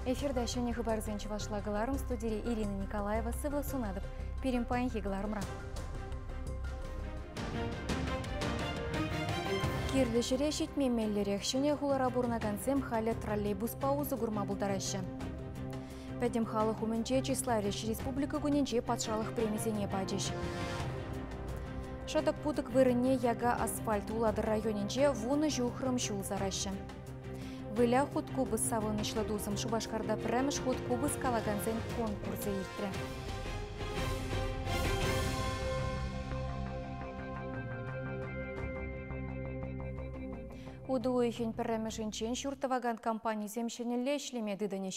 Эфирта ҫӗнӗ хыпарсен чӑвашла кӑларӑм студире Ирина Николаева сывлӑх сунатӑп пирӗн паянхи кӑларӑмра. Кирлӗ ҫӗре ҫитме меллӗрех. Ҫӗнӗ хулара пурӑнакансем халӗ троллейбуспа усӑ курма пултараҫҫӗ. Пӗтӗм халӑх умӗнче числа леш республика кунӗнче патшалӑх премисене пачӗҫ. Шӑтӑк-путӑк вырӑнне яка асфальт Улатӑр районӗнче вунӑ ҫухрӑм ҫул сараҫҫӗ. Выля хут купӑс савӑнӑҫлӑ тусӑм Шупашкарта пӗрремӗш хут купӑс калакансен конкурсӗ иртрӗ. Утӑ уйӑхӗн пӗрремӗшӗнчен ҫурт тӑвакан компанисем ҫӗнӗлле ӗҫлеме тытӑнӗҫ.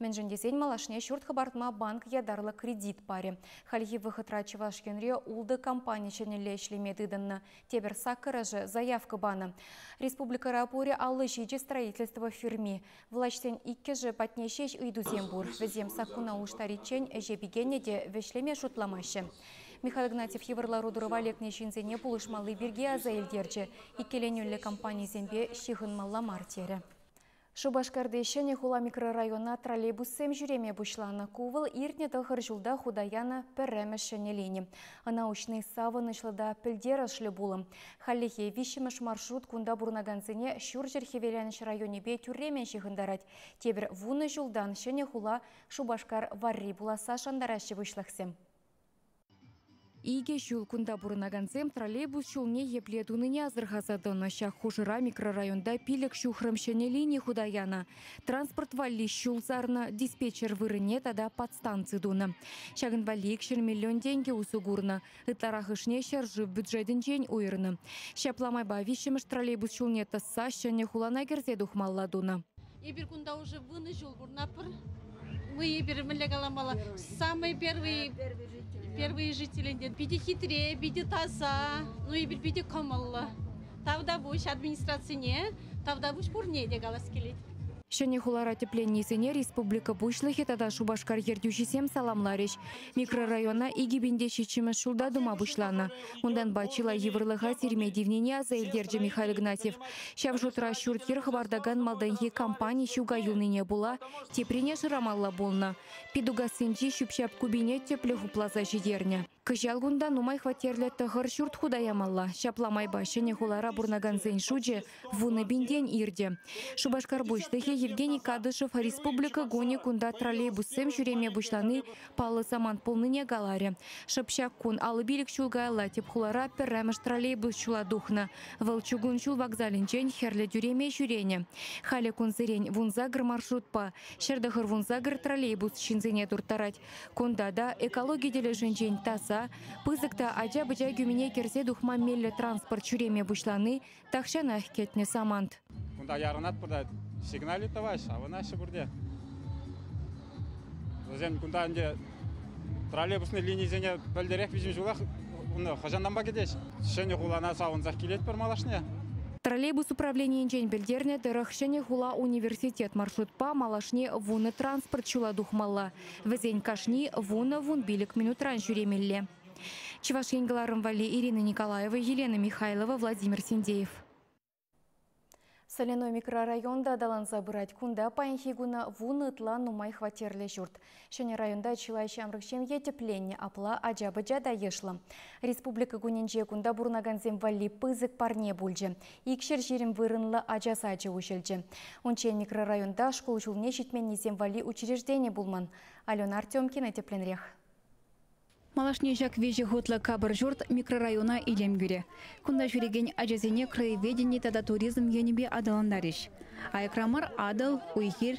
Мӗншӗн тесен малашне ҫурт хӑпартма банк ятарлӑ кредит парӗ. Хальхи вӑхӑтра Чӑваш Енре ултӑ компани ҫӗнӗлле ӗҫлеме тытӑннӑ. Тепӗр саккӑрӑшӗ заявка панӑ. Республикӑра пурӗ аллӑ ҫичӗ строительство фирми. Влаҫсен иккӗшӗ патне ҫеҫ ыйтусем пур. Вӗсем саккуна улӑштариччен ӗҫе пикеннӗ те вӗҫлеме шутламаҫҫӗ. Михаил Игнатьев йывӑр лару-тӑрӑва лекнӗ ҫынсене пулӑшмалли пирки аса илтерчӗ, иккӗленӳллӗ компанисемпе ҫыхӑнмалла мар терӗ. Шупашкарти Ҫӗнӗ хула микрорайона троллейбуссем ҫӳреме пуҫланӑ. Ку вӑл иртнӗ тӑхӑр ҫулта хута янӑ пӗрремӗш ҫӗнӗ лини. Ӑна уҫни савӑнӑҫлӑ та пӗлтерӗшлӗ пулӑм. Хальлӗхе виҫҫӗмӗш маршрут кунта пурӑнакансене Ҫурҫӗр-Хӗвеланӑҫ районӗпе тӳрремӗн ҫыхӑнтарать. Тепӗр вунӑ ҫултан Ҫӗнӗ хула Шупашкар варри пуласса шантараҫҫӗ пуҫлӑхсем. Икӗ ҫул кунта пурӑнакансем троллейбус ҫулне епле тунине асӑрхаса тӑнӑ. Ҫак хушӑра микрорайонта пилӗк ҫухрӑм ҫӗнӗ лини хута янӑ. Транспорт валли ҫул сарнӑ, диспетчер вырӑнне тата подстанци тунӑ. Ҫакӑн валли икҫӗр миллион тенкӗ усӑ курнӑ. Ытларахӑшне ҫӗршыв бюджетӗнчен уйӑрнӑ. Ҫапла майпа виҫҫӗмӗш троллейбус ҫулне тӑсса ҫӗнӗ хулана кӗрсе тухмалла тунӑ. Эпир кунта уже вунӑ ҫул пурӑнатпӑр. Мы эпир мӗнле каламалла? Самый первый, первые жители питӗ хитре, питӗ таса, ну эпир питӗ кӑмӑллӑ. Тавтапуҫ администрацине, тавтапуҫ пурне те калас килет. Ҫӗнӗ хулара тӗпленнисене республика Пуҫлӑхӗ тата Шупашкар ертӳҫисем саламларӗҫ. Микрорайона икӗ пин те ҫиччӗмӗш ҫулта тума пуҫланӑ. Унтанпа чылай йывӑрлӑха сирме тивнине аса илтерчӗ Михаил Игнатьев. Ҫав шутра ҫурт-йӗр хӑпартакан малтанхи компани ҫука юлнине пула теприне шырамалла пулнӑ. Питугассинчи ҫӳп-ҫап купине тӗплӗ хупласа ҫитернӗ. Кӑҫал кунта нумай хваттерлӗ тӑхӑр ҫурт хута ямалла. Ҫапла майпа ҫӗнӗ хулара пурӑнакансен шучӗ вунӑ пинтен иртӗ. Шупашкар пуҫлӑхӗ Евгений Кадышев республика кунӗ кунта троллейбуссем ҫӳреме пуҫлани паллӑ самант пулнине каларӗ. Шӑп ҫак кун аллӑ-пилӗк ҫул каялла тӗп хулара пӗрремӗш троллейбус ҫула тухнӑ. Вӑл чугун ҫул вокзалӗнчен хӗрлӗ тӳреме ҫӳренӗ. Халӗ кунсерен вунсакӑр маршрутпа ҫӗр тӑхӑр вунсакӑр троллейбус ҫынсене турттарать. Кунта та экологи тӗлӗшӗнчен таса, пысӑк та ача-пӑча кӳмине кӗрсе тухма меллӗ транспорт ҫӳреме пуҫлани Тахҫанах кӗтнӗ самант. Кунта ярӑнатпӑр та сигнали тӑваҫҫӗ, авӑнаҫҫӗ пурте. Вӗсем кунта ӗнтӗ троллейбусный линисене пӗлтӗрех виҫӗм ҫулах унӑ хӑҫананпа кӗтеҫ? Ҫӗнӗ хулана савӑнсах килетпӗр малашне. Троллейбус управленийӗнчен пӗлтернӗ тӑрӑх Ҫӗнӗ хула университет маршрутпа малашне вунӑ транспорт ҫула тухмалла. Вӗсен кашни вунӑ-вун пилӗк минутран ҫӳремелле. Чӑваш Ен кӑларӑм валли Ирина Николаева, Елена Михайлова, Владимир Синдеев. Соляной микрорайонта аталанса пырать. Кунта паянхи куна вунӑ ытла нумай хваттерлӗ ҫурт. Ҫӗнӗ районта чылай ҫамрӑк ҫемье тӗпленнӗ, апла ача-пӑча та йышлӑ. Республика кунӗнче кунта пурӑнакансем валли пысӑк парне пулчӗ. Икҫӗр ҫирӗм вырӑнлӑ ача сачӗ уҫӑлчӗ. Унччен микрорайонта шкул ҫулне ҫитменнисем валли учреждени пулман. Алена Артемкина тӗплӗнрех. Малашне ҫак виҫӗ хутлӑ капӑр ҫурт микрорайона илем кӳрӗ. Кунта ҫӳрекен ачасене краеведени тата туризм енӗпе аталантарӗҫ. Аякра мар, Атӑл, уй-хир.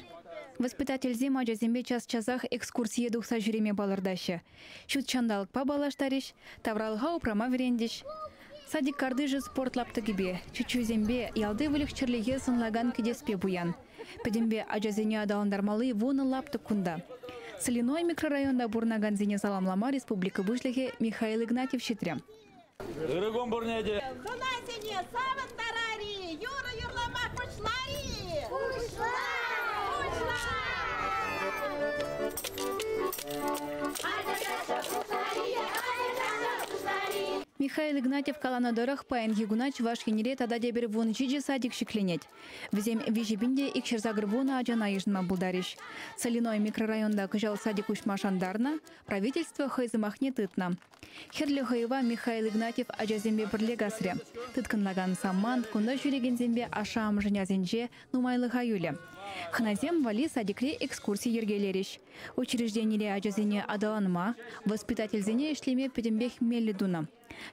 Воспитательсем ачасемпе час-часах экскурсие тухса ҫӳреме палӑртаҫҫӗ. Ҫут ҫанталӑкпа паллаштарӗҫ, тавралӑха упрама вӗрентӗҫ. Садик картишӗ спорт лаптӑкӗпе, чечексемпе, ялти выльӑх-чӗрлӗхе сӑнлакан кӗтеспе пуян. Пӗтӗмпе ачасене аталантармалли вунӑ лаптӑк кунта. Соляной микрорайонта пурӑнакансене саламлама республика Пуҫлӑхӗ Михаил Игнатьев ҫитрӗ. Ырӑкун пурне те! Хӑнасене савӑнтарар-и, юрӑ юрлама пуҫла-и! Пуҫла! Пуҫла! Ача-чача пуҫлар-и, ача-чача пуҫлар-и! Михаил Игнатьев каланӑ тӑрӑх, паянхи куна Чӑваш Енре тата тепӗр вун ҫичӗ садик ҫӗкленет. Вӗсем виҫӗ пин те икҫӗр-сакӑр вунӑ ачана йышӑнма пултарӗҫ. Соляной микрорайонта кӑҫал садик уҫма шантарнӑ, правительство хӑй сӑмахне тытнӑ. Хӗрлӗ хӑйӑва Михаил Игнатьев ачасемпе пӗрле касрӗ. Тыткӑнлакан самант, кунта ҫӳрекенсемпе ашшӗ-амӑшӗн асӗнче нумайлӑха юлӗ. Хӑнасем валли садикре экскурси йӗркелерӗҫ. Учрежденире ачасене аталанма, воспитательсене ӗҫлеме пӗтӗмпех меллӗ тунӑ.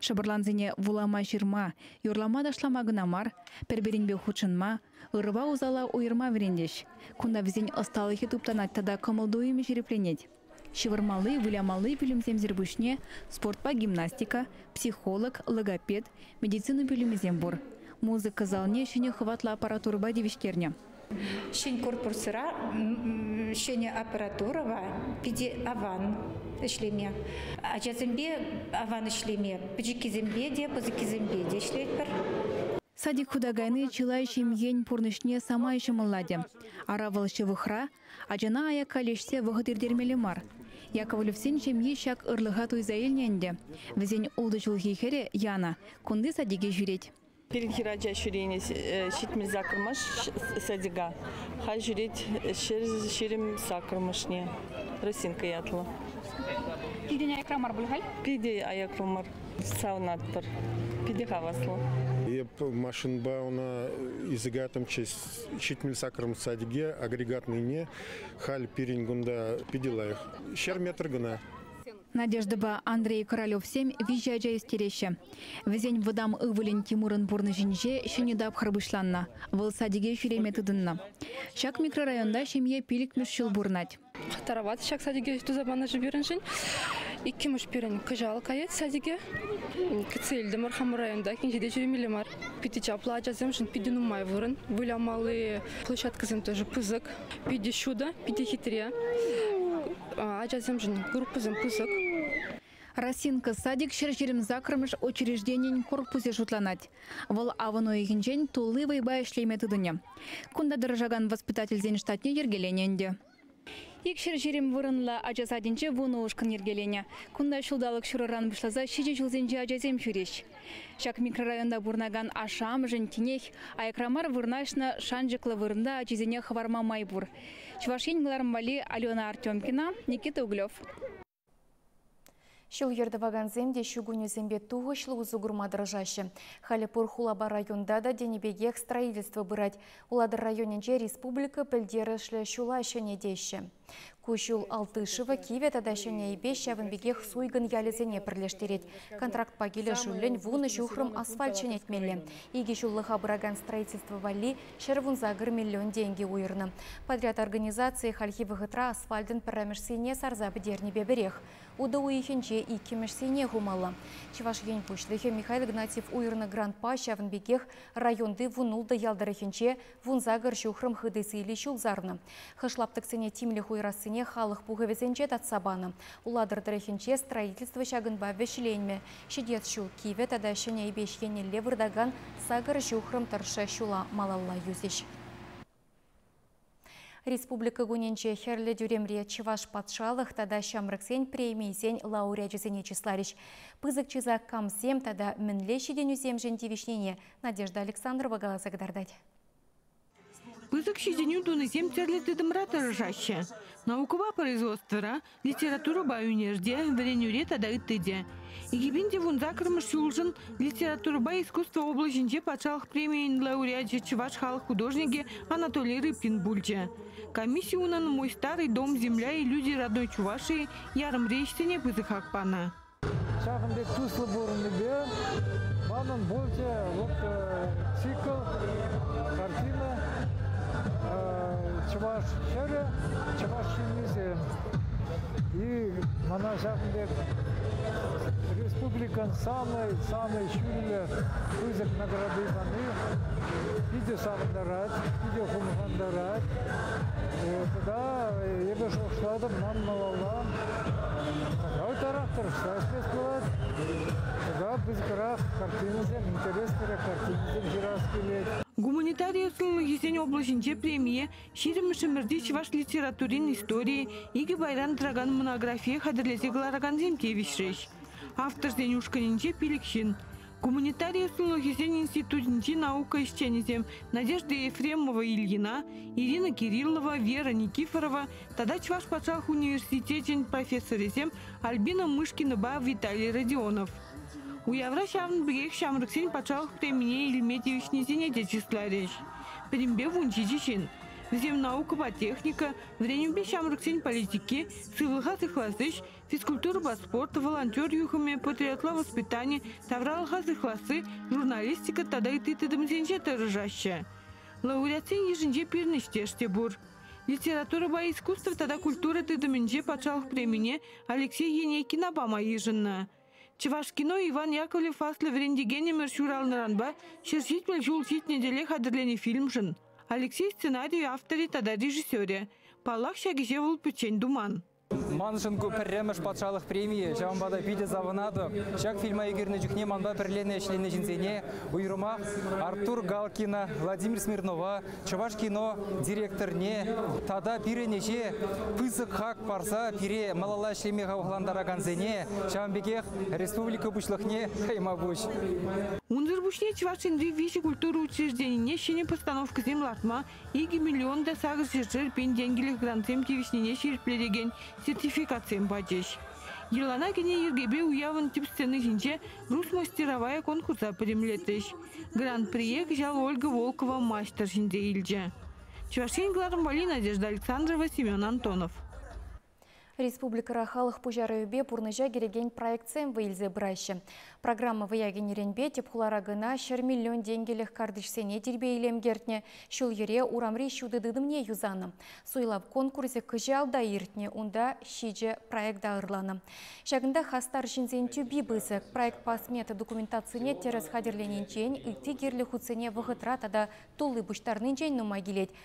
Шӑпӑрлансене вулама-ҫырма, юрлама-ташлама кӑна мар, пӗр-пӗринпе хутшӑнма, ырӑпа усала уйӑрма вӗрентӗҫ. Кунта вӗсен ӑсталӑхӗ туптанать тата кӑмӑл-туйӑмӗ ҫирӗпленет. Ҫывӑрмалли, вылямалли пӳлӗмсемсӗр пуҫне спортпа гимнастика, психолог, логопед, медицина пӳлӗмӗсем пур. Музыка залне ҫӗнӗ хӑватлӑ аппаратурӑпа тивӗҫтернӗ. Ҫӗн корпусра ҫӗнӗ аппаратурӑпа питӗ аван ӗҫлеме. Ачасемпе аван ӗҫлеме, пӗчӗккисемпе те, пысӑккисемпе те ӗҫлетпӗр. Садик хута кайни чылай ҫемьен пурнӑҫне самай ҫӑмӑллатӗ. Ара, вӑл ҫывӑхра, Ачана аякка леҫсе вӑхӑт иртермелле мар. Яковлевсен ҫемйи ҫак ырлӑха туйса илнӗ ӗнтӗ. Вӗсен ултӑ ҫулхи хӗрӗ Яна кунти садике ҫӳрет. Пирӗн хӗрача ҫӳренӗ ҫитмӗл саккӑрмӗш садика. Халь ҫӳрет ҫӗр ҫирӗм саккӑрмӗшне. Росинка ятлӑ. Питӗ аякра мар пуль халь? Питӗ аякра мар. Савӑнатпӑр. Питӗ хаваслӑ. Эп машинӑпа ӑна ӳсӗк атӑмччӗ ҫитмӗл саккӑрмӗш садике агрегатнӑйне халь пирӗн кунта питӗ лайӑх. Ҫӗр метр кӑна. Надеждӑпа Андрей Королевсем виҫӗ ача ӳстереҫҫӗ. Вӗсен вӑтам ывӑлӗн Тимурӑн пурнӑҫӗнче ҫӗнӗ тапхӑр пуҫланнӑ, вӑл садике ҫӳреме тытӑннӑ. Ҫак микрорайонта ҫемье пилӗкмӗш ҫул пурӑнать. Тарават ҫак садике туса панӑшӗ пирӗншӗн. Иккӗмӗш пирӗн кӑҫал каять садике. Кӗтсе илтӗмӗр хамӑр районта кинчете ҫӳремелле мар. Питӗ чаплӑ ачасемшӗн питӗ нумай вырӑн. Вылямалли площадкӑсем тоже пысӑк. Питӗ ҫутӑ, питӗ хитре. Ачасемшӗн группӑсем пысӑк. Росинка садик ҫӗр ҫирӗм саккӑрмӗш учрежденийӗн корпусӗ шутланать. Вӑл авӑн уйӑхӗнчен тулли вӑйпа ӗҫлеме тытӑнӗ. Кунта тӑрӑшакан воспитательсен штатне йӗркеленӗ ӗнтӗ. Ик ҫӗр ҫирӗм вырӑнлӑ ача садӗнче вунӑ ушкӑн йӗркеленӗ. Кунта ҫулталӑк ҫурӑран пуҫласа ҫичӗ ҫулсенчи ачасем ҫӳреҫ. Ҫак микрорайонта пурӑнакан ашшӗ-амӑшӗн тинех аякра мар вырнаҫнӑ шанчӑклӑ вырӑнта ачисене хӑварма май пур. Чӑваш Ен кӑларӑм валли Алена Артемкина, Никита Углев. Ҫул-йӗр тӑвакансем те ҫу кунӗсемпе тухӑҫлӑ усӑ курма тӑрӑшаҫҫӗ. Халӗ пур хулапа районта та тенӗ пекех строительство пырать. Улатӑр районӗнче республика пӗлтерӗшлӗ ҫула ҫӗнетеҫҫӗ. Ку ҫул Алтышево, Кивӗ тата Ҫӗнӗ Эйпе ҫавӑн пекех Суйкӑн ялӗсене пӗрлештерет. Контрактпа килӗшӳллӗн вунӑ ҫухрӑм асфальт ҫӗнетмелле. Икӗ ҫуллӑха пыракан строительство валли Ҫӗр вунса кӗр миллион тенкӗ уйӑрнӑ. Подряд организацийӗ хальхи вӑхӑтра асфальтӑн пӗрремӗшсене сарса пӗтернӗпе пӗрех. Утӑ уйӑхӗнче иккӗмӗшсене хумалла. Чӑваш Ен Пуҫлӑхӗ Михаил Игнатьев уйӑрнӑ грантпа ҫавӑн пекех районти Вунултӑ ял тӑрӑхӗнче вунса кӗр ҫухрӑм хытӑ сийлӗ ҫул сарнӑ. Хӑш лаптӑксене тимлӗх уйӑрассине халӑх пухӑвӗсенче татса панӑ. Улатӑр тӑрӑхӗнче строительство ҫакӑнпа вӗҫленмӗ. Ҫитес ҫул кивӗ тата ҫӗнӗ Эйпеҫ еннелле выртакан сакӑр ҫухрӑм тӑршшӗ ҫула малалла юсӗҫ. Республика кунӗнче Хӗрлӗ тӳремре Чӑваш патшалӑх тата ҫамрӑксен премийӗсен лауреачӗсене чысларӗҫ. Пысӑк чыса камсем тата мӗнле ҫитӗнӳсемшӗн тивӗҫнине Надежда Александрова каласа кӑтартать. Пысӑк ҫитӗнӳ тунисем тӗрлӗ тытӑмра тӑрӑшаҫҫӗ. Наукӑпа производствӑра, литературӑпа ӳнерте, вӗренӳре тата ытти те. Экипин те вун саккӑрмӗш ҫулшӑн литературӑпа искусство облаҫӗнче патшалӑх премийӗн лауреачӗ чӑваш халӑх художникӗ Анатолий Рыбкин пулчӗ. Комисси унӑн «Мой старый дом, земля и люди родной Чувашии» ярӑмри ӗҫсене пысӑк хак панӑ. Ҫакӑн пек туслӑ пурӑннипе манӑн пурте вот цикл, картина, чӑваш хӗрӗ, чӑваш ҫыннисем. И мана ҫакӑн пек республикӑн самый самый ҫӳллӗ пысӑк награди пани питӗ савӑнтарать, питӗ хумхантарать. Тата эпӗ шухӑшлатӑп, ман малалла Авторах тӑрӑшса ӗҫлес пулать. Тата пысӑкрах картинӑсем, интереслӗ картинӑсем ҫырас килет. Гуманитари условийӗсен облаҫӗнче премие Ҫирӗммӗш ӗмӗрти чӑваш литературин историйӗ икӗ пайран тӑракан монографие хатӗрлесе кӑларакансем тивӗҫрӗҫ. Авторсен ушкӑнӗнче пилӗк ҫын. Гуманитари услугисен институтӗнчи наука ӗҫченӗсем Надежда Ефремова Ильина, Ирина Кириллова, Вера Никифорова тата Чӑваш патшалӑх университечӗн профессорӗсем Альбина Мышкинӑпа Виталий Родионов. Уявра ҫавӑн пекех ҫамрӑксен патшалӑх премине илме тивӗҫнисене те чысларӗҫ. Пӗтӗмпе вун ҫичӗ ҫын. Вӗсем наукӑпа техника, вӗренӳпе ҫамрӑксен политики, сывлӑха сыхлас ӗҫ, Физкультурӑпа спорт, волонтер юхӑмӗ, патриотла воспитани, тавралӑха сыхласси, журналистика тата ытти тытӑмсенче тӑрӑшаҫҫӗ. Лауреатсен йышӗнче пирӗнӗҫтеш те пур. Литературӑпа искусство тата культура тытӑмӗнче патшалӑх премине Алексей Енейкина пама йышӑннӑ. Чӑвашкино Иван Яковлев аслӑ вӗрентекен ӗмӗр ҫуралнӑранпа ҫӗр ҫитмӗл ҫул ҫитнӗ тӗле хатӗрленӗ фильмшӑн. Алексей сценарийӗ авторӗ тата режиссерӗ. Паллах, ҫак ӗҫе вӑл пӗччен туман. Маншӑн ку пӗрремӗш патшалӑх премийӗ, ҫавӑнпа та питӗ савӑнатӑп. Ҫак фильма ӳкернӗ чухне манпа пӗрлене ӗҫленӗ ҫынсене, уйрӑмах Артур Галкина, Владимир Смирнова, Чӑваш кино директорне тата пирӗн ӗҫе пысӑк хак парса пире малалла ӗҫлеме хавхалантаракансене, ҫавӑн пекех республика Пуҫлӑхне хӑйма пуҫ. Унсӑр пуҫне Чӑваш Енри виҫӗ культура учрежденине ҫӗнӗ постановкӑсем лартма икӗ миллион та сакӑр ҫӗршер пин тенкӗлӗх грантсем тивӗҫнине ҫирӗплетекен сертификатсем пачӗҫ. Йӑлана кӗнӗ йӗркепе уявӑн тӗп сцена ҫинче «Груз мастеровая» конкурса пӗтӗмлетрӗҫ. Гран-прие кӑҫал Ольга Волкова маҫтӑр ҫӗнсе илчӗ. Чӑваш Ен кӑларӑмпали Надежда Александрова, Семен Антонов. Республикӑра халӑх пуҫарӑвӗпе пурнӑҫа кӗрекен проектсем вӑй илсе пыраҫҫӗ. Программа вӑя кӗнӗренпе тӗп хула района ҫӗр миллион тенкӗлӗх картишсене тирпей-илем кӗртнӗ, ҫул-йӗре урамри ҫутӑ тытӑмне юсанӑ. Суйлав конкурсӗ кӑҫал та иртнӗ, унта ҫичӗ проекта ырланӑ. Ҫакӑнта хастар ҫынсен тӳпи пысӑк. Проектпа смета документацине тӗрӗс хатӗрленинчен, ытти кирлӗ хутсене вӑхӑтра тата тулли пуҫтарнинчен нумай килет,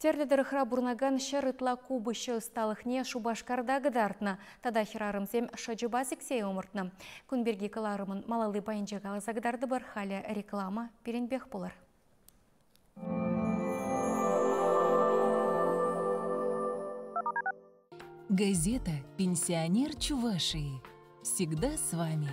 Тӗрлӗ тӑрӑхра пурӑнакан ҫӗр ытла купӑсҫӑ ӑсталӑхне Шупашкарта кӑтартнӑ тата хӗрарӑмсем шӑчӑпа сиксе ӑмӑртнӑ. Кун пирки кӑларӑмӑн малалли пайӗнче каласа кӑтартӑпӑр. Халӗ реклама пирӗнпех пулӑр. Газета «Пенсионер Чувашии» всегда с вами.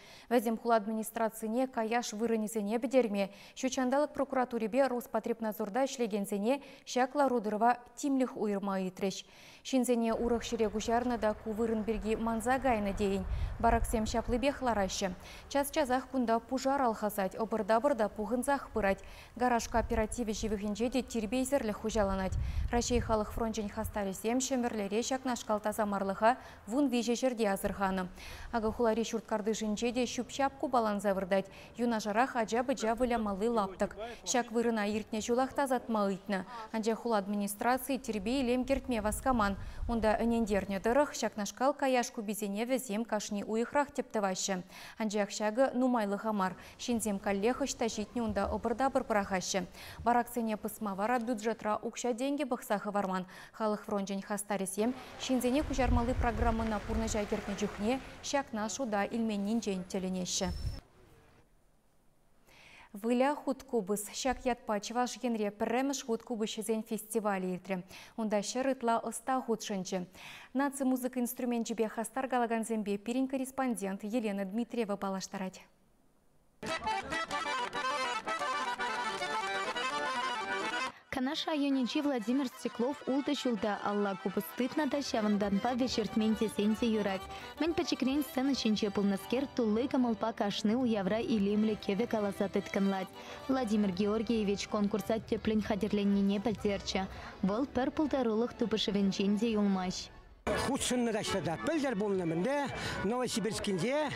Вӗсем хула администрацине каяш вырӑнӗсене пӗтерме, ҫутҫанталӑк прокуратурипе Роспотребнадзорта ӗҫлекенсене ҫак лару-тӑрӑва тимлӗх уйӑрма ыйтрӗҫ. Ҫынсене урӑх ҫӗре куҫарнӑ та ку вырӑн пирки манса кайнӑ тейӗн. Бараксем ҫаплипех лараҫҫӗ. Час-часах кунта пушар алхасать, ӑпӑр-тапӑр та пухӑнсах пырать. Гараж кооперативӗ ҫывӑхӗнче те тирпейсӗрлӗх хуҫаланать. Раҫҫей халӑх фрончӗн хастарӗсем Ҫӗмӗрлере ҫакнашкал тасамарлӑха вун виҫӗ ҫӗрте асӑрханӑ. Акӑ хулари ҫурт картишӗнче те ҫӳп-ҫап купаланса выртать. Юнашарах ача-пӑча вылямалли лаптӑк. Ҫак вырӑна иртнӗ ҫулах тасатма ыйтнӑ. Анчах хула администрацийӗ тирпей-илем кӗртме васкаман. Унта ӗнентернӗ тӑрӑх, ҫакнашкал каяш куписене вӗсем кашни уйӑхрах тӗп тӑваҫҫӗ. Анчах ҫакӑ нумайлӑха мар. Ҫынсем каллех ӑҫта ҫитнӗ унта ӑпӑр-тапӑр пӑрахаҫҫӗ. Бараксене пӑсма вара бюджетра укҫа-тенкӗ пӑхса хӑварман, Халӑх фрончӗн хастарӗсем ҫынсене куҫармалли программӑна пурнӑҫа кӗртнӗ чухне ҫакна шута илменнинчен тӗлӗнеҫҫӗ. Выля хут купӑс. Ҫак ятпа Чӑваш Енре пӗрремӗш хут купӑсҫӑсен фестивалӗ иртрӗ. Унта ҫӗр ытла ӑста хутшӑнчӗ. Наци музыка инструменчӗпе хастар калакансемпе пирӗн корреспондент Елена Дмитриева паллаштарать. Канаш районӗнчи Владимир Стеклов ултӑ ҫулта алла купӑс тытнӑ та ҫавӑнтанпа вӗҫертмен тесен те юрать. Мӗн пӗчӗкрен сцена ҫинче пулнӑскер тулли кӑмӑлпа кашни уявра илемлӗ кӗвӗ каласа тыткӑнлать. Владимир Георгиевич конкурса тӗплӗн хатӗрленнине пӗлтерчӗ. Вӑл пӗр пултарулӑх тупӑшӑвӗнчен те юлмасть. Хутшӑннӑ каҫра та пӗлтӗр пулнӑ-мӗнле Новосибирскинче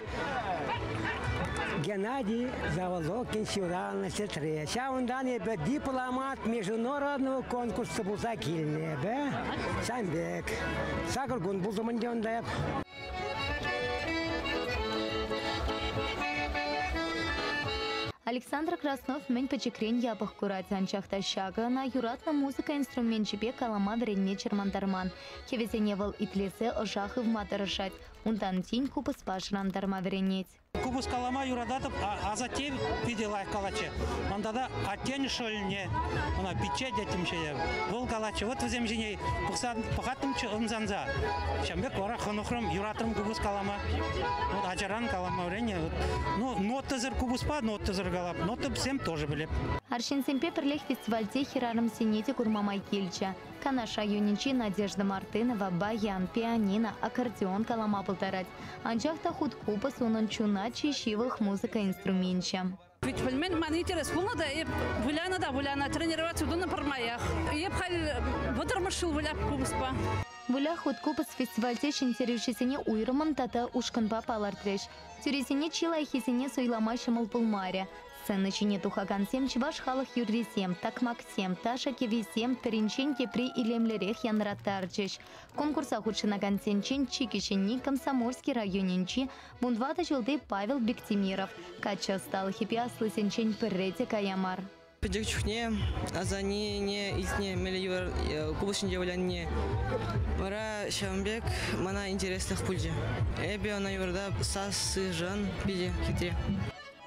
Геннадий Заволокин ҫуралнӑ сестре. Ҫавӑнтан эпӗ дипломат международного конкурсу пулса килнӗ эпӗ. Сан пек. Сакӑр кун пултӑм ӗнтӗ унта. Александр Краснов мӗн пӗчӗкрен япӑх курать, анчах та ҫакӑ ӑна юратнӑ музыка инструменчӗпе калама вӗренме чӑрмантарман. Кӗвӗсене вӑл итлесе ӑша хывма тӑрӑшать, унтан тин купӑспа шӑрантарма вӗренет. Купӑс калама юрататӑп, асатте питӗ лайӑх калатчӗ. Ман тата аттен шӑлне, ӑна пичче теттӗмччӗ эп, вӑл калатчӗ. Вӑт вӗсем ҫине пӑхаттӑмччӗ ӑмсанса. Ҫавӑн пек вара хӑнӑхрӑм, юратрӑм купӑс калама. Вӑт ачаран калама вӗреннӗ. Ну, нотӑсӑр купӑспа нотӑсӑр калап, нота вӗсем тоже пӗлеп. Арҫынсемпе пӗрлех фестивальте хӗрарӑмсене те курма май килчӗ. Канаша юнӗнчи Надежда Мартынова баян, пианино, аккордеон калама пултарать. Анчах та хуткупӑс унӑн чуна чи ҫывӑх музыка инструменчӗ. Пит пӗлмен ман интерес пулнӑ та эп вылянӑ та вылянӑ, тренироваци тунӑ пӗрмаях. Эп халь вӑтӑрмӗш ҫул вылях купӑспа. Вылях хуткупӑс фестивальте ҫӗнтерӳҫӗсене уйрӑмӑн тата ушкӑнпа палӑртрӗҫ. Тӳресене чи лайӑххисене суйлама ҫӑмӑл пулмарӗ. Сцена ҫине тухакансем чӑваш халӑх юррисем, такмаксем, ташӑ кӗвисем пӗринчен тепри илемлӗрех янраттарчӗҫ. Конкурса хутшӑнакансенчен чи кӗҫӗнни Комсомольски районӗнчи вун ватӑ ҫулти Павел Биктимиров. Каччӑ ӑсталӑхӗпе аслисенчен пӗрре те кая мар. Пӗчӗк чухне асаннене илтнӗ меллӗ йывӑр э, купӑсҫинче вылянине вара ҫавӑн пек мана интереслех пулчӗ. Эпӗ ӑна йывӑрта сассишӗн питӗ хитре.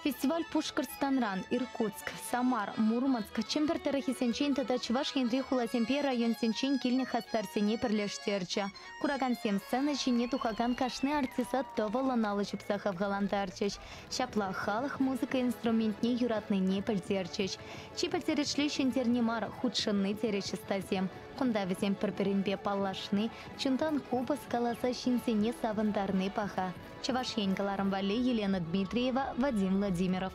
Фестиваль Пушкӑртстанран, Иркутск, Самар, Мурманск, Чӗмпӗр тӑрӑхӗсенчен тата Чӑваш Енри хуласемпе районсенчен килнӗ хастарсене пӗрлештерчӗ. Куракансем сцена ҫине тухакан кашни артиста тӑвӑллӑн алӑ ҫупса хавхалантарчӗҫ, ҫапла халӑх музыка инструментне юратнине пӗлтерчӗҫ. Чи пӗлтерӗшли ҫӗнтерни мар, хутшӑнни, терӗҫ ӑстасем. Кунта вӗсем пӗр-пӗринпе паллашни, чунтан купӑс каласа ҫынсене савӑнтарни паха. Чӑваш Ен кӑларӑм валли Елена Дмитриева, Вадим Владимиров.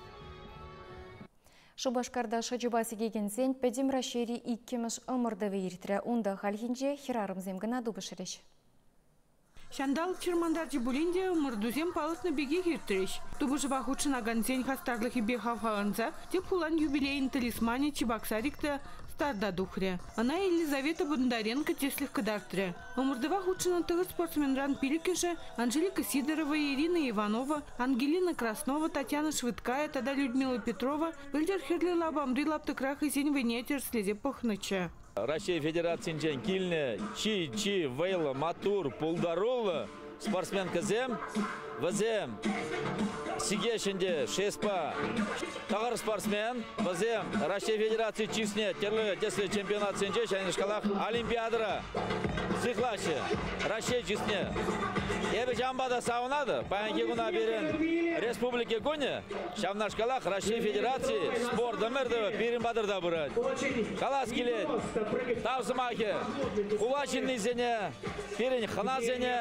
Шупашкарта шӑчӑпа сикекенсен Пӗтӗм Раҫҫейри иккӗмӗш ӑмӑртӑвӗ иртрӗ. Унта хальхинче хӗрарӑмсем кӑна тупӑшрӗҫ. Ҫанталӑк чӑрмантарчӗ пулин те ӑмӑртусем палӑртнӑ пекех иртрӗҫ. Тупӑшӑва хутшӑнакансен хастарлӑхӗпе хавхаланса тӗп хулан юбилейӗн талисманӗ Чебоксарик та старта тухрӗ. Ӑна Елизавета Бондаренко тӗслӗх кӑтартрӗ. Ӑмӑртӑва хутшӑннӑ тӑвӗ спортсменран пилӗккӗшӗ Анжелика Сидорова, Ирина Иванова, Ангелина Краснова, Татьяна Швыдкая тата Людмила Петрова пӗлтӗр хӗрлӗ лапамри лаптӑкра хӑйсен вӑйне тӗрӗслесе пӑхнӑччӗ. Раҫҫей Федерацинчен килнӗ чи-чи вӑйлӑ, маттур, пултаруллӑ спортсменкӑсем вӗсем сикеҫ ӗнтӗ шеспа тӑхӑр спортсмен вӗсем Раҫҫей Федераци чысне тӗрлӗ тӗслӗ чемпионатсенче ҫавнашкалах Олимпиадӑра сыхлаҫҫӗ Раҫҫей чысне. Эпӗ ҫавӑнпа та савӑнатӑп. Паянхи куна пирӗн Республика кунӗ ҫавнашкалах Раҫҫей Федераци спорт ӑмӑртӑвӗ пирӗн патӑрта пырать. Калас килет, тав сӑмахӗ хула ҫыннисене. Пирӗн хӑнасене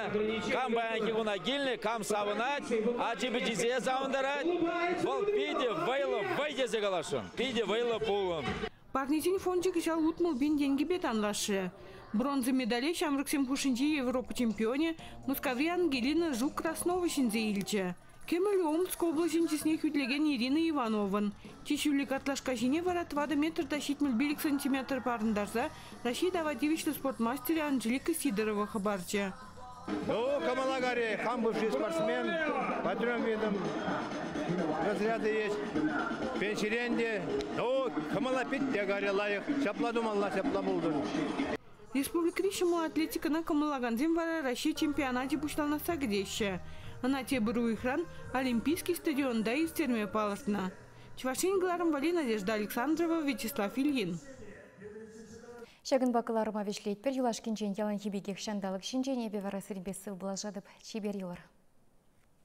кам паянхи куна килнӗ, кам савӑнать, ачи-пичисене савӑнтарать. Вӑл питӗ вӑйлӑ вӑй тесе каласшӑн, питӗ вӑйлӑ пулӑм. Парнесен фончӗ кӑҫал утмӑл пин тенкӗпе танлашрӗ. Бронза медале ҫамрӑксем хушшинчи Европа чемпионӗ, Мускаври Ангелина Жук Краснова ҫӗнсе илчӗ. Кӗмӗле Омск облаҫӗн чысне хӳтлекен Ирина Иванован чи ҫӳллӗ картлашка ҫине вара тӑватӑ метр та ҫитмӗл пилӗк сантиметр парӑнтарса Раҫҫей тава тивӗҫлӗ спорт мастерӗ Анжелика Сидорова хӑпарчӗ. Ну, кӑмӑла кари, хам бывший спортсмен, патрон видом разряды есть. Пенсирен те, ну, кӑмӑла питте кари лайӑх. Ҫапла тумалла, ҫапла пултӑр. Республикӑри ҫӑмӑл атлетикӑна кӑмӑллакансем вара Раҫҫей чемпионачӗ пуҫланасса кӗтеҫҫӗ. Ӑна тепӗр уйӑхран Олимпийский стадионта ирттерме палӑртнӑ. Чӑваш Ен кӑларӑмвалли Надежда Александрова, Вячеслав Ильин. Ҫакӑнпа кӑларӑма вӗҫлетпӗр. Юлашкинчен яланхи пекех ҫанталӑк ҫинчен эпӗ вара сирпе сывпуллашатӑп. Чипер юлӑр!